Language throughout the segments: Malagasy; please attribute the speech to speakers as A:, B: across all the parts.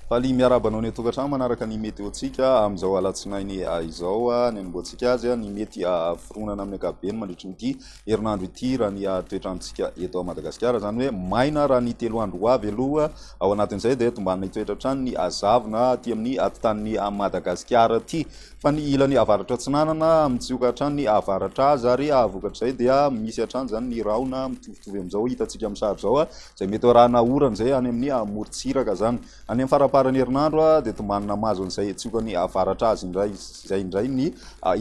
A: Faly miarahaba anao ny an-tokantrano manaraka ny meteontsika amin'izao alatsinainy izao. Ny anombohantsika azy ny mety hahaforonana amin'ny ankapobeny mandritry ny ity herinandro ity raha ny toetrantsika eto Madagasikara, izany hoe maina raha ny telo andro ho avy aloha, ao anatin'izay dia tombanana hitoetra hatrany ny hazavona aty amin'ny atitan'ny Madagasikara aty, fa ny ilany avaratra atsinanana mitsioka hatrany ny avaratra azy ary vokatr'izay dia misy hatrany izany ny rahona mitovitovy amin'izao hitantsika amin'ny sary izao izay mety ho arahana orana izay any amin'ny morontsiraka izany, any amin'ny faramparan'ny herinandro dia tombanana mahazo an'izay tsiokan'ny avaratra azy indray. izay indray ny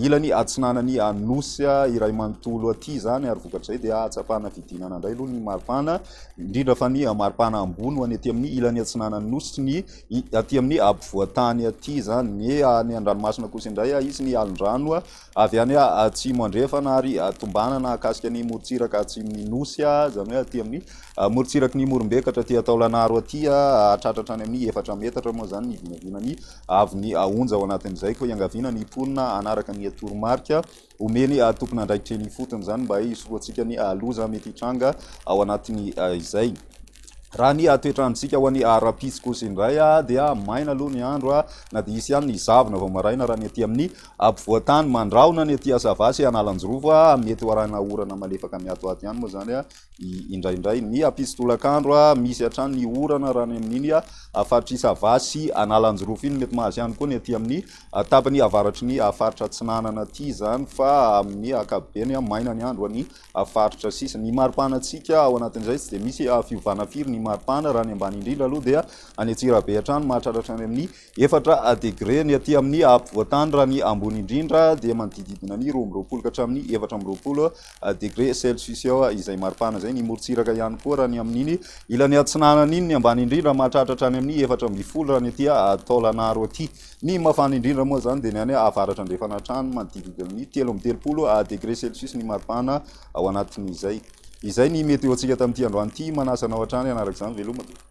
A: ilany atsinanan'ny Nosy iray manontolo aty izany, ary vokatr'izay dia ahatsapana fidinana indray aloha ny maripana, indrindra fa ny maripana ambony ho any aty amin'ny ilany atsinanan'ny Nosy sy ny aty amin'ny ampovoan-tany aty izany. Ny any an-dranomasina kosa indray hisy ny alin-drano avy any atsimo andrefana ary tombanana hahakasika ny morontsiraka atsimon'ny Nosy, izany hoe aty amin'ny morontsiraky ny Morombekatra aty Taolagnaro aty, hahatratra hatrany amin'ny efatra metatra moa izany ny vinavinan'ny avy ny haonja ao anatin'izay koa iangaviana ny mponina hanaraka ny toromarika omen'ny tompon'andraikitra eny ifotony izany mba hisorohantsika ny loza mety hitranga ao anatin'ny izay raha ny toetrandrontsika ho an'ny arapitsy kosa indray dia maina aloha ny andro na dia hisy ihany ny zavona vao maraina raha ny aty amin'ny ampovoantany mandrahona ny aty asavasy analanjirova mety ho arahina orana malefaka miato ato ihany moa izany indraindray ny hampisy tolakandro, misy hatrany ny orana raha any amin'iny faritr'i Sava sy Analanjirofo iny, mety mahazo ihany koa ny aty amin'ny tapany avaratry ny faritra Atsinanana aty izany fa amin'ny ankapobeny maina ny andro any faritra sisa. Ny maripanantsika ao anatin'izay tsy dia misy fiovana firy ny maripana raha ny ambany indrindra aloha dia any Antsirabe hatrany mahatratra any amin'ny Efatra degre ny aty amin'ny ampovoantany raha ny ambony indrindra dia manodidididina ny roa amby roapolo ka hatramin'ny efatra amby roapolo degre celcius eo izay maripana izay. Ny morontsiraka ihany koa raha ny amin'iny ilany atsinanana iny ny ambany indrindra mahatratra hatrany amin'ny efatra ambin'ny folo raha ny aty Taolagnaro aty. Ny mafana indrindra moa izany dia ny any avaratra andrefana hatrany manodidididina ny telo amby telopolo degre celcius ny maripana ao anatin'izay. Izay ny météo-ntsika tamin'ity androany ity. Manasa anao hatrany hanaraka izany veloma.